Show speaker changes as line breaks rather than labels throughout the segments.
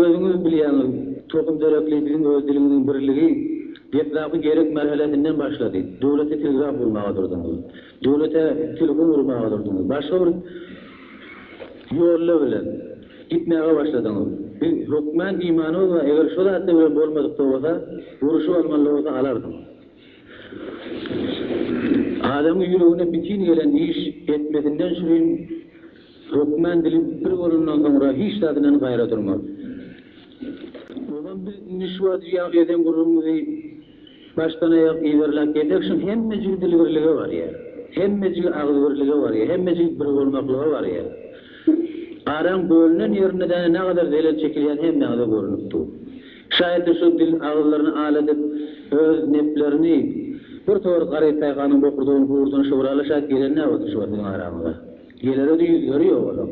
Özüňiz bilýäňiz, tohum-terekli biziň öz dilimiziň birligi deslapky gerek merhelesinden başlady. Döwlete telgraf gurmaga durduňyz. Döwlete telefon urmaga durduňyz. Başga bir ýolla bilen gitmäge başladyňyz. Biz hökmän imanymyz bar, eger şo zatlar bilen bolmadyk-da bolsa, uruşyp almaly-da bolsa alardyňyz. Adamyň ýüregine bitin gelen iş etmesinden şirin. Hökmän dili bir bolandan soňra hiç zat bilen gaýra durmaz. Ozan biz indi şu wagt jüýäň eden gürrüňimizi başdan aýak yzarlap gelsek şuň hemmejigi dil birlige barýar. Hemmejigi agyz birlige barýar. Hemmejigi bir bolmaklyga barýar. Araň bölünen ýerinde däne nagadar zelel çekilýäni hemmäňize görnüp dur. Şaýatly şu dil agyzlaryny al edip öz neplerini bir towar garyp paýhanyň bokurdagyny hurdan şowraly şaýat gelen näbolduşy bar siziň araňyza. Gelere-de ýüzleri ýok olam.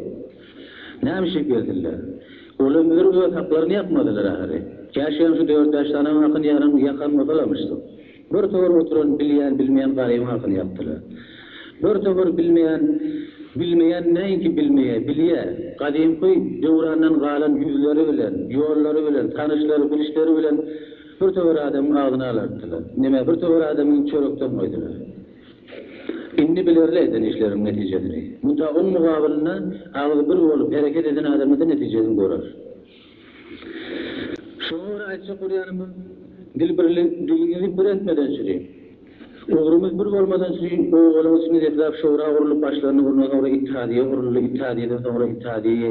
Näme içip gelsinler? Olam bilir öz haklaryny ýakmadylar ahyry. Käşgem şu dört-bäş sanaň hakyny ýaran, ýakan bolsalarmyşdyk. Bir towar oturan bilýän-bilmeýän garybyň hakyny ýakdylar. Bir towar bilmeýän, bilmeýän näinki bilmeýä, bilýä. Gadymky döwrandan galan ýüzleri bilen, ýollary bilen, tanyşlary, bilişleri bilen bir towar adamyň agzyny alartdylar. Nämä bir towar adamy çörekden goýdular. Indi bilerli eden işleriň netijesini. Munta oň mugabylynda agzy bir bolup hereket eden adamyda netijesini görer. Şoňa görä aýtjak bolýanymyz, dil birli, diliňizi bir etmedençli, ugrumyz bir bolmadançli obalyň içinde deslap şura gurlup başlaryny urna soňra ittihadiýe guruldy, ittihadiýeden soňra ittihadiýe,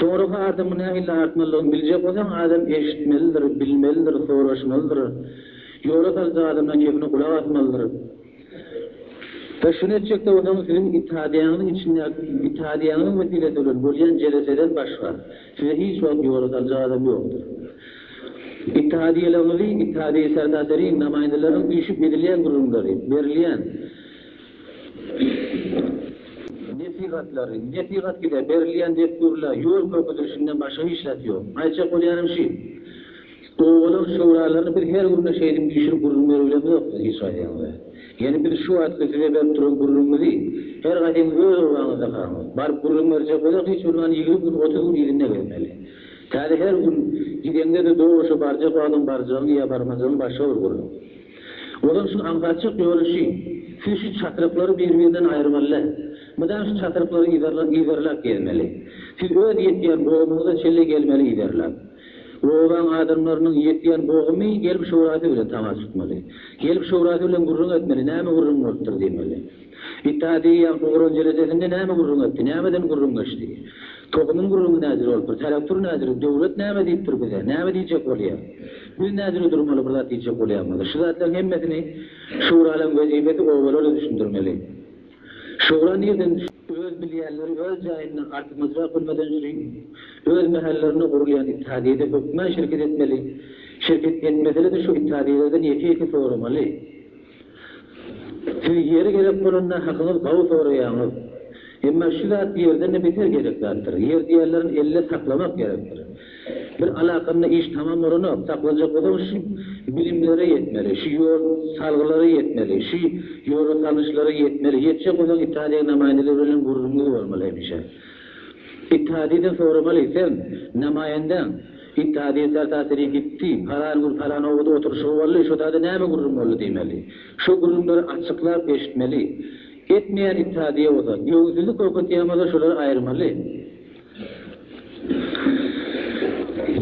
Soragy adamyň nähili artmalydygyny biljek bolsaň, adam eşitmelidir, bilmelidir, soraşmalydyr. Ýola saljak adamdan kepine gulak asmalydyr. We şuny etjek-de bolsaňyz, siziň itadiýaňyzyň içindäki itadiýaňyzyň wesilesi bilen bolýan jeleseden başga, sizi hiç wagt ýola saljak adam ýokdur. Itadiýalygyňyzy itadiýa-serdaserin, namaýyndalaryň üýşüp edilýän gürrüňleri, berilýän. Nesihatlary, nesihat gide, berilýän dessurlar, ýol görkezilişinden başga hiç zat ýok. Aýtjak bolýanym şi, owadan şöwralaryny biz her günde şeýdin düşürip gürrüň beribilemizok siz hiç haýsyňyza. Ýene biz şu wagtky size berip duran gürrüňimizi her haýsyňyz öz obaňyzda haňyz. Baryp gürrüň berjek bolsak hiç bolmanda ýigrimi gün, otuz gün yzynda gezmeli. Täze her gün gideňde-de dogry şu barjak wagtyň barjagyň ýa barmajygyň başga bir gürrüň. Olar şu aňsatjak ýörüşi, siz şu çatryklary bir-birinden aýyrmaly-dä. Mydam şu çatryklary yzarlap gezmeli. Siz öz ýetýän boguňyza çenli gelmeli yzarlap. Obaň adamlarynyň ýetýän bogumy gelip şurasy bilen tamaşa tutmaly. Gelip şurasy bilen gürrüň etmeli, näme gürrüň bolupdyr diýmeli. Ita diýýän gurran jeledesinde näme gürrüň etdi, nämeden gürrüň geçdi? Tohumyň gürrüňi näjüre bolup dur, telektur näjüre, döwlet näme diýip dur bize, näme diýjek bolýar? Biz näjüre durmaly bir zat diýjek bolýan bolsa? Şu zatlaryň hemmesini Şuralaryň wezipesi obalara düşündirmeli. Şura nirden düşdi? Öz bilýänleri öz jaýynda artykmaçrak bilmeden üçin öz mähellerinde gurulýan ittihadiýede hökmän şirket etmeli, şirket etmesele-de şu ittihadiýelerden ýeke-ýeke soramaly. Siz ýeri gerek bolanda hakyňyz gawy soraýaňyz. Emma şu zat ýerden-de beter gerek zatdyr. Ýer diýerlerini elde saklamak gerekdir. Bir alakanda iş tamam bolanok, saklajak bolsaň şu bilimlere ýetmeli, şu ýol salgylara ýetmeli, şu ýola salnyşlara ýetmeli, ýetjek bolsaň Italiýa namaýyndalar bilen gürrüňiňiz bolmaly hemişe. Itadiden soramaly, sen, namaýyndäň, Gitdi Hadyýeň sär tasyry gitdi. Palan gün palan obada oturyşygy boldy, şo taýda näme gürrüň boldy diýmeli. Şo gürrüňleri açyklap eşitmeli. Etmeýän it Hadyýe bolsa, göwünsizlik görkezýän bolsa şolary aýyrmaly.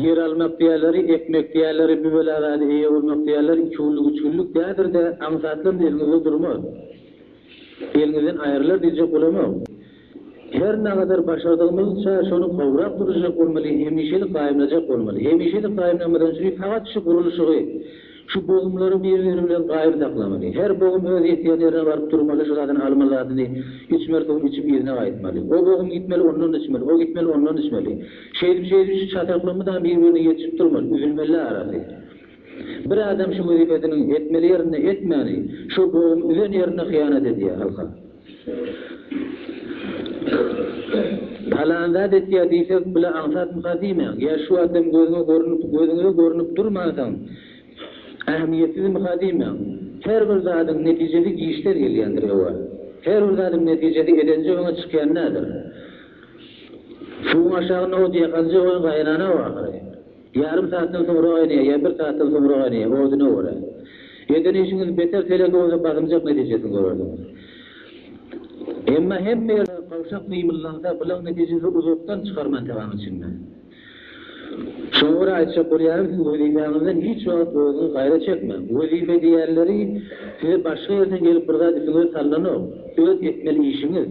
Ýer almak diýerleri, ekmek diýerleri, bu bela zada eýe bolmak diýerleri iki günlük, üç günlük däldir-de, aňsatlam eliňizde durmaz. Eliňizden aýrylar diýjek bolamok. Her nagadar başardygymyzça şony gowrak duruzjak bolmaly, hemişelik gaýymlajak bolmaly. Hemişelik gaýymlanmadan üçin fakat şu gurluşygy, şu bogumlary bir-biri bilen gaýym saklamaly. Her bogum öz ýetýän ýerine baryp durmaly, şu zadyny alma zadyny içmeli suwuny içip yzyna gaýtmaly. O bogum gitmeli ondan içmeli, o gitmeli ondan içmeli. Şeýdip şeýdip şu çataklyk mydam bir-birine ýetişip durmaly, üzülmeli arasy. Bir adam şu wezipesiniň etmeli ýerinde etmäni, şo bogumy üzen ýerinde hyýanat edýär halka. Palan zat etýär diýse, bile aňsatmyka diýmäň. Ýa şu adam gözüňe görnüp, gözüňize görnüp durmansoň, ähmiýetsizmika diýmäň. Her bir zadyň netijesi giçden gelýändir, ewa. Her bir zadyň netijesi edenje öňe çykýan däldir. Suwuň aşagy nowut ýakanja oýun gaýrana-ow ahyry. Ýarym saatdan soňra gaýnaýar ýa bir saatdan soňra gaýnaýar, oduna görä. Eden işiňiz beter teleke bolsa basymjak netijesini görersiňiz. Emma hemme ýerde gawşak mymyldansa bulaň netijesi uzakdan çykar mantygaň içinde. Şoňa görä aýtjak bolýarym siz wezipäňizden hiç wagt özüňiz gaýra çekmäň. Wezipe diýýänleri size başga ýerden gelip bir zat üstüňize salnanok. Öz etmeli işiňiz.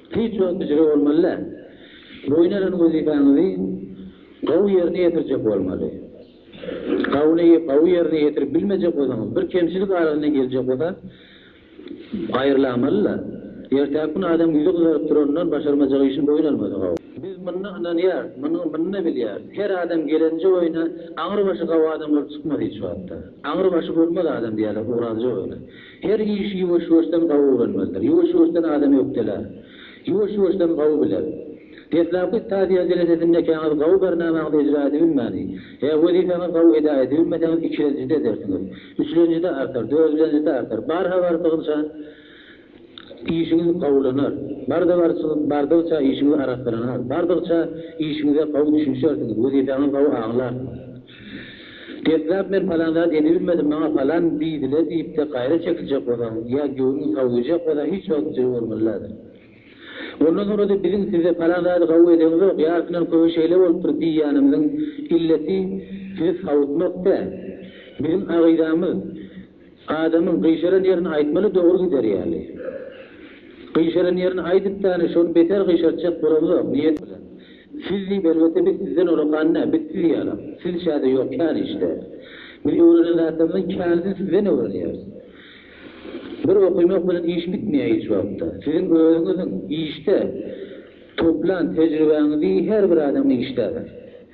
Hiç ýokyjyly bolmaly-da. Boýun alan wezipäňizi gowy ýerine ýetirjek bolmaly. Gawuny gowy ýerine ýetirip bilmejek bolsaňyz, bir kemçilik arasyna geljek bolsa, aýrylamaly-da. Ertäki gün adam ýüzi gyzaryp duranyndan başarmajak işini boýun almasa gowy. Biz munyna ynanýarys, munyny-munyny bilýäris. Her adam gelenje oýna aňry başy gowy adam bolup çykmaz hiç wagtda. Aňry başy bolmaz adam diýýärler Orazyja oýna. Her işi ýuwaş-ýuwaşdan gawy öwrenmelidir. Ýuwaş-ýuwaşdan adam ökdelär. Ýuwaş-ýuwaşdan gawy biler. Deslapky stadiýa derejesinde ekäňiz gawy barnamaňyzy ejra edibilmäni, ä wezipäňiz gawy eda edibilmeseňiz ikilenjide edersiňiz. Üçlenjide artar, dördilenjide artar. Barha bardygyňça işiňiz gawulanar. Barda barşyňyz bardygyça işiňiz arassalanar. Bardygça işiňize gawy düşünişersiňiz, wezipäňiz gawy aňlarsyňyz. Deslap men palan zat edibilmedim maňa palan diýdiler diýipde gaýra çekiljek bolsaň ýa göwnüň sag diýjek bolsa hiç wagt jygy bolmalydadyr. Ondan soňrada biziň size palan zady gawy edeňizok ýarysyndan köbi şeýle bolupdyr diýýänimiziň illeti sizi sawutmak däl. Biziň agydamyz. Adamyň gyşaran ýerini aýtmaly dogry gider ýaly. Gyşaran ýerini aýdyp dany şony beter gyşartjak bolamzok niýet bilen. Siz diýip elbetde biz sizden olakan dä biz siz ýala. Siz çäde ýok kän işde. Biz öwrenen zatlarymyzyň känisini sizden öwrenýäris. Bir okymak bilen iş bitmeýär hiç wagtda. Siziň özüňiziň işde toplan tejribäňizi her bir adam işdäber.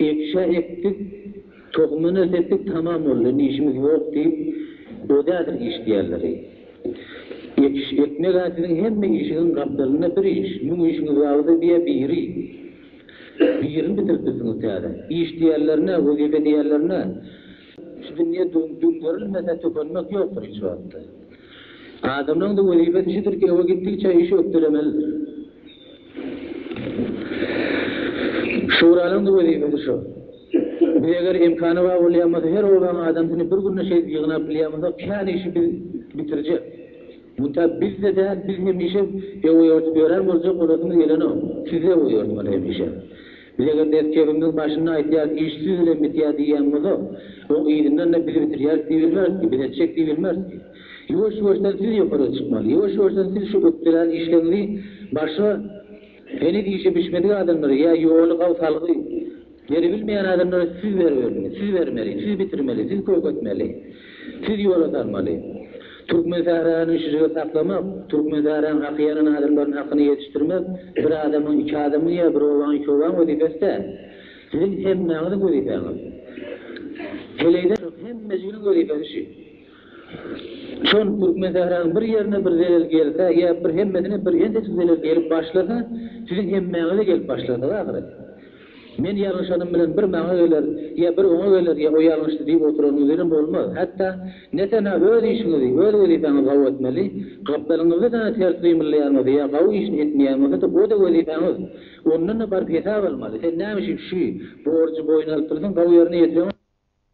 Ekşä ekdik, tohumyna sepdik, tamam boldy, indi işimiz ýok diýip, odädir iş diýerleri. Ekiş ekmeg-ä siziň hemme işiňiň gapdalynda bir iş, müň işiňiz bardy diýýä biri. Birini bitirip bilsiňiz täze. Iş diýerlerine, wezipe diýerlerine, şu dünýe düňderilmese tükenmek ýokdur hiç wagtda. Adamlaryň-da wezipesi şudur ki, öe gitdigiçe işi ökdelemelidir. Şuranyň-da wezipesi şo. Biz eger imkany bar bolýan bolsa her obaň adamsyny bir günde şeýdip ýygnap bilýän bolsak kän işi biz bitirjek. Munta biz-de däl biz hemişe ewoýortup ýören boljak bolasymyz gelenok. Siz-de ewoýortmaly hemişe. Biz eger mekdebimiz başynda aýtýarys iş siz bilen bitýär diýýän bolsa, oň yzyndan-da biz bitirýäris diýip bilmeris ki, biz etjek diýip bilmeris ki. Ýuwaş-ýuwaşdan siz ýokaryga çykmaly. Ýuwaş-ýuwaşdan siz şu ökdelän işleriňizi başga heniz işi bişmedik adamlara ýa ýoly gaw salgy beribilmeýän adamlara siz beribermeli, siz bermeli, siz bitirmeli, siz köketmeli. Siz ýola salmaly. Türkmen sähraýyny şujagaz saklamak, türkmen sähraýyň haky ýanan adamlaryň hakyny ýetişdirmek bir adamyň, iki adamyň ýa bir obaň, iki obaň wezipesi däl. Siziň hemmäňiziň wezipäňiz. Heleýden soň hemmejiginiň wezipesi şu. Şol türkmen sähraýynyň bir ýerine bir zelel gelse ýa bir hemmesine bir ençejik zelel gelip başlasa, siziň hemmäňize gelip başlardygy ahyry. Men ýalňyşanym bilen bir maňa geler, ýa bir oňa geler, ýa o ýalňyşdy diýip oturanyňyz bilen bolmaz. Hatda, netenä öz işiňizi, öz wezipäňizi gawy etmeli. Gapdalyňyzda däne ters gymyllaýanyňyzda ýa gawy işini etmeýäňiňizde-de o-da wezipäňiz. Ondan-da baryp hesap almaly. Sen näme üçin şü borjy boýun alyp dursaň, gawy ýerine ýetireňok.